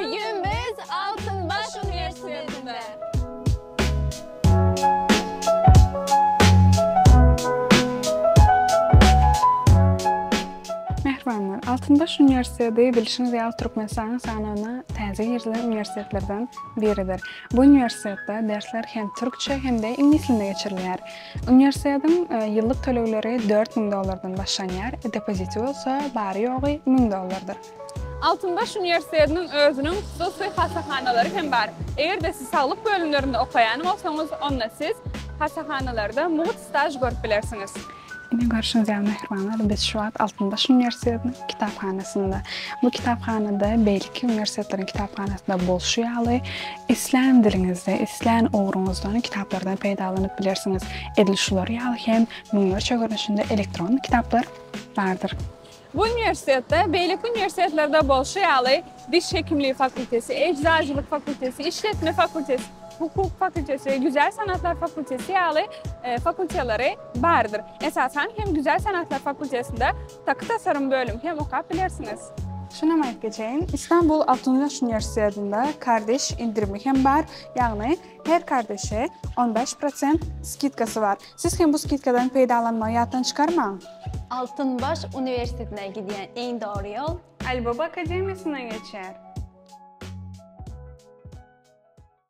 Bugün biz Altynbaş uniwersitetinde. Mähribanlar, Altynbaş uniwersiteti bilşiňiz ýaly Türkmenistanyň sanawyna täze girizilen uniwersitetlerden biridir. Bu uniwersitetde dersler hem türkçe hem-de iňlis dilinde geçirilýär. Uniwersitetiň e, ýyllyk tölegleri dört müň dollardan başlanýar, depoziti bolsa bary-ýogy müň dollardyr. Altynbaş uniwersitetiniň özüniň hususy hassahanalary hem bar. Eger-de siz saglyk bölümlerinde okaýan bolsaňyz, onda siz hassahanalarda mugt staž görüp bilersiňiz. Ine, görşüňiz ýaly, mähribanlar, biz şu wagt Altynbaş uniwersitetiniň kitaphanasynda. Bu kitaphanada beýleki uniwersitetleriň kitaphanasynda bolşy ýaly, islän diliňizde, islän ugruňyzdan kitaplardan peýdalanyp bilersiňiz. Edil şular ýaly hem müňlerçe görnüşinde elektron kitaplar bardyr. Bu uniwersitetde, beýleki uniwersitetlerde bolşy ýaly, diş hekimligi fakulteti, ejzaçylyk fakulteti, işletme fakulteti, hukuk fakulteti we güzel sanatlar fakulteti ýaly fakultelary bardyr. Esasan hem güzel sanatlar fakultetinde taky tasarym bölümi hem okap bilersiňiz. Şunam aýdyp geçeýin, Istanbul Altyn Güneş uniwersitetinde kardeş endirimi hem bar, ýagny her kardeşe on bäş prosent skidkasy bar. Siz hem bu skidkadan peýdalanmagy ýatdan çykarmaň! Altynbaş uniwersitetine gidýän iň dogry ýol. Alibaba akademiýasyndan geçer.